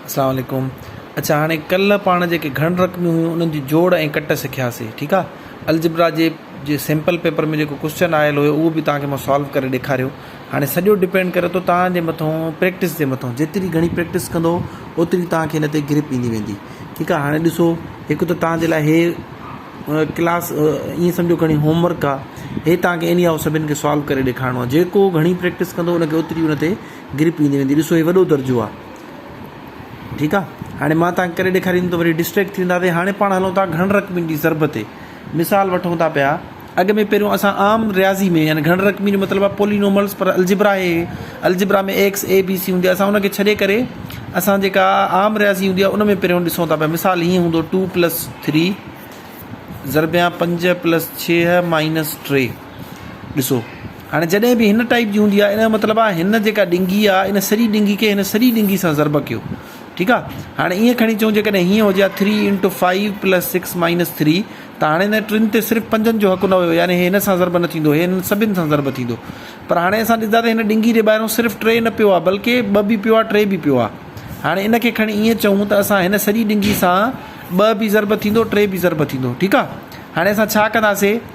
اسلام عليڪم اچا هاڻي ڪل پاڻ جيڪي گهڻ رقميون هيون انهن جي جوڙ ۽ ڪٽ سکياسي ٺيڪ آ الجبرا جي جي سيمپل پيپر ۾ جيڪو ڪوسچن آيل هيو اهو به توهانکي مان سالو ڪري ڏيکاريو هاڻي سڄو ڊپينڊ ڪري ٿو توهان جي مٿون پريڪٽس جي مٿون جيتري گهڻي پريڪٽس ڪندو اوتري توهانکي هن تي گرپ ايندي ويندي ٺيڪ آ هاڻي ڏسو هڪ ته توهان جي لاء هي ڪلاس ائين سمجهو گهڻي هوم ورڪ آ هي توهانکي اني آئو سڀن کي سالو ڪري ڏيکارڻو آ جيڪو گهڻي پريڪٽس ڪندو انکي اوتري ان تي گرپ ايندي ويندي ڏسو هي وڏو درجو آ ٺيڪ آ هاڻي مان توهان کي ڪري ڏيکاريندم ته وري ڊسٽريڪٽ ٿي وينداسي هاڻي پاڻ هلون ٿا گهڻ رقمين جي ضرب تي مثال وٺون ٿا پيا اڳ ۾ پهريون اسان عام رياضي ۾ يعني گهڻ رقمي جو مطلب آ پولينوملز پر الجبرا هي algebra ۾ X A B C هوندي اسان ان کي ڇڏي ڪري اسان جيڪا عام رياضي هوندي آ ان ۾ پهريون ڏسون ٿا پيا مثال هيئن هوندو ٽو پلس ٿري ضربيان پنج پلس ڇهه مائنس ٽي ڏسو هاڻي جڏهن به هن ٽائيپ جي هوندي آهي ان جو مطلب آهي هن جيڪا ڏنگي آهي ان سري ڏنگي کي هن سري ڏنگي سان ضرب ڪيو ٺيڪ آهي هاڻي ائين کڻي چئون جيڪڏهن هيئن هجي ها three into five plus six minus three ته هاڻي هن ٽن تي صرف پنجن جو حق نه هيو يعني هي هن سان ضرب نه ٿيندو هي هن سڀن سان ضرب ٿيندو پر هاڻي اسان ڏسندا ته هن ڏنگي جي ٻاهرون صرف ٽي نه پيو آهي بلڪه ٻه به پيو آهي ٽي به پيو آهي هاڻي ان کي کڻي ائين چئون ته اسان هن سري ڏنگي سان ٻه به ضرب ٿيندو ٽي به ضرب ٿيندو ٺيڪ آهي هاڻي اسان ڇا ڪنداسي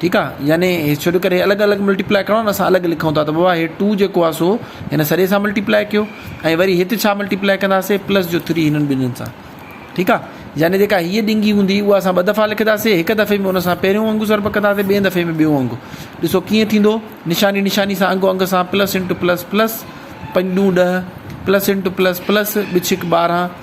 ٺيڪ آ يعني شروع ڪري الڳ الڳ ملٽيپلاء ڪرڻو نه اسان الڳ لکون ٿا ته بابا هي ٽو جيڪو آ سو هن سڄي سان ملٽيپلاء ڪيو ۽ وري هت ڇا ملٽيپلاء ڪنداسي پلس جو ٿري هنن ٻنهين سان ٺيڪ آ يعني جيڪا هيء ڏنگي هوندي اها اسان ٻه دفعا لکنداسي هڪ دفعي ۾ ان سان پهريون انگ ضرب ڪنداسي ٻئي دفعي ۾ ٻيون انگ ڏسو ڪيئن ٿيندو نشاني نشاني سان انگ انگ سان پلس انٽو پلس پلس پنج ڏون ڏهه پلس انٽو پلس پلس ٻه ڇڪ ٻارهن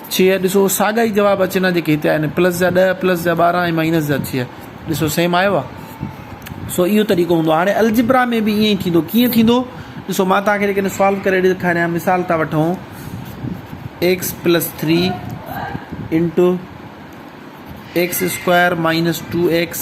ڇهه، ڏسو ساڳا ئي جواب اچن ها جيڪي هتي آيا آهن، پلس جا ڏهه، پلس جا ٻارهن ۽ مائنس جا ڇهه، ڏسو سيم آيو آهي. سو اهو طريقو هوندو آهي. هاڻي الجبرا ۾ به ائين ئي ٿيندو، ڪيئن ٿيندو؟ ڏسو مان توهان کي جيڪڏهن سالو ڪري ڏيکاريان، مثال ٿا وٺون X plus three into X square minus two X,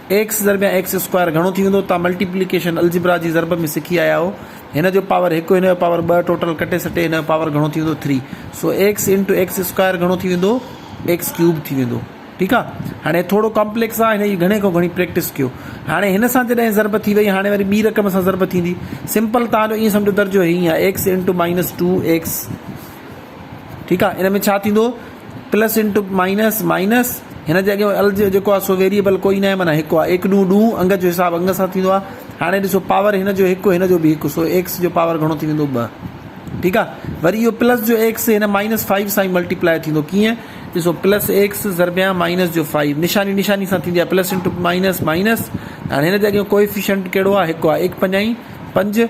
X ضرب يا ايڪس اسڪوائر گهڻو ٿي ويندو توهان ملٽيپليڪيشن الجبرا جي ضرب ۾ سکي آيا آهو هن جو پاور هڪ هن جو پاور ٻه ٽوٽل ڪٽي سٽي هن جو پاور گهڻو ٿي ويندو ٿري سو ايڪس انٽو ايڪس اسڪوائر گهڻو ٿي ويندو ايڪس ڪيوب ٿي ويندو ٺيڪ آ هاڻي ٿورو ڪامپليڪس آ هن جي گهڻي کان گهڻي پريڪٽس ڪيو هاڻي هن سان جڏهن ضرب ٿي وئي هاڻي وري ٻي رقم سان ضرب ٿيندي سمپل توهان جو ائين سمجهو درجو هيئين آ X into minus two X ٺيڪ آ ان ۾ ڇا ٿيندو پلس انٽو مائنس مائنس هن جي اڳيان ال جيڪو آ سو ويريبل کوئي نه معنی هڪ آ ايڪ ڏون ڏون انگ جو حساب انگ سان ٿيندو آ هاڻي ڏسو پاور هن جو هڪ هن جو به هڪ سو ايڪس جو پاور گهڻو ٿي ويندو ٻه ٺيڪ آ وري اهو پلس جو ايڪس هن مائنس 5 سان ملٽيپلائي ٿيندو ڪيئن ڏسو پلس ايڪس ضربيان مائنس جو 5 نشاني نشاني سان ٿيندي آ پلس انٽو مائنس مائنس هاڻي هن جي اڳيان ڪوئفيشنٽ ڪهڙو آ هڪ آ 1 پنجائي 5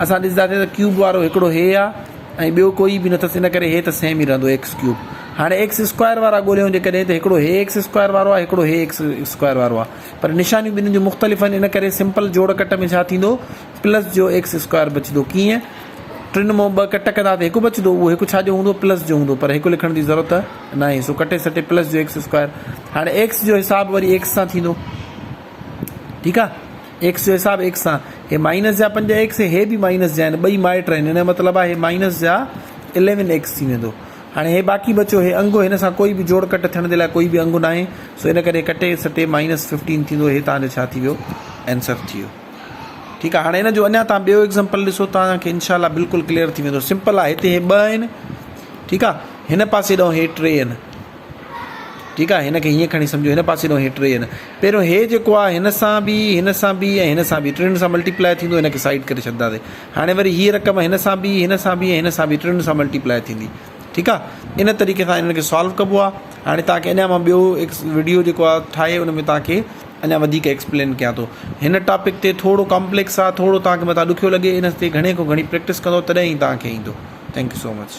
اسان ڏسنداسين ته ڪيوب وارو هڪڙو هي آ ۽ ٻيو ڪوئي به نٿس ان ڪري هي ته سيم ئي رهندو ايڪس ڪيوب هاڻي ايڪس اسڪوائر وارا ڳوليون جيڪڏهن ته هڪڙو هي ايڪس اسڪوائر وارو آ هڪڙو هي ايڪس اسڪوائر وارو آ پر نشانيون ٻنهين جون مختلف آهن ان ڪري سمپل جوڙ ڪٽ ۾ ڇا ٿيندو پلس جو ايڪس اسڪوائر بچدو ڪيئن ٽن مون ٻه ڪٽ ڪندا ته هڪ بچدو اهو هڪ ڇا جو هوندو پلس جو هوندو پر هڪ لکڻ جي ضرورت ناهي سو ڪٽي سٽي پلس جو ايڪس اسڪوائر هاڻي ايڪس جو حساب وري ايڪس سان ٿيندو ٺيڪ آ ايڪس جو حساب ايڪس سان، هي مائنس جا پنج ايڪس ۽ هي به مائنس جا آهن، ٻئي مائٽ آهن، ان جو مطلب آهي هي مائنس جا اليون ايڪس ٿي ويندو. هاڻي هي باقي بچيو هي انگ، هن سان ڪوئي به جوڙ ڪٽ ٿيڻ جي لاء ڪوئي به انگ ناهي، سو ان ڪري ڪٽي سٽي مائنس ففٽين ٿيندو، هي توهان جو ڇا ٿي ويو آنسر ٿي ويو. ٺيڪ آهي، هاڻي ان جو اڃا توهان ٻيو ايگزامپل ڏسو توهان کي انشاء الله بلڪل ڪليئر ٿي ويندو، سمپل آهي، هتي هي ٻه آهن ٺيڪ آهي، هن پاسي ڏانهن هي ٽي آهن. ٺيڪ آهي هن کي هيئن کڻي سمجهو هن پاسي ڏانهن هي ٽي هن پهريون هي جيڪو آهي هن سان به هن سان به ۽ هن سان به ٽنهن سان ملٽيپلائي ٿيندو هن کي سائيڊ ڪري ڇڏنداسي هاڻي وري هي رقم هن سان به هن سان به هن سان به ٽنهن سان ملٽيپلائي ٿيندي ٺيڪ آهي ان طريقي سان انهن کي سالو ڪبو آهي هاڻي توهان کي اڃا مان ٻيو ويڊيو جيڪو آهي ٺاهي ان ۾ توهان کي اڃا وڌيڪ ايڪسپلين ڪيان ٿو هن ٽاپڪ تي ٿورو ڪامپليڪس آهي ٿورو توهان کي مٿان ڏکيو لڳي ان تي گهڻي کان گهڻي پريڪٽس ڪندو تڏهن ئي توهان کي ايندو ٿينڪ يو سو مچ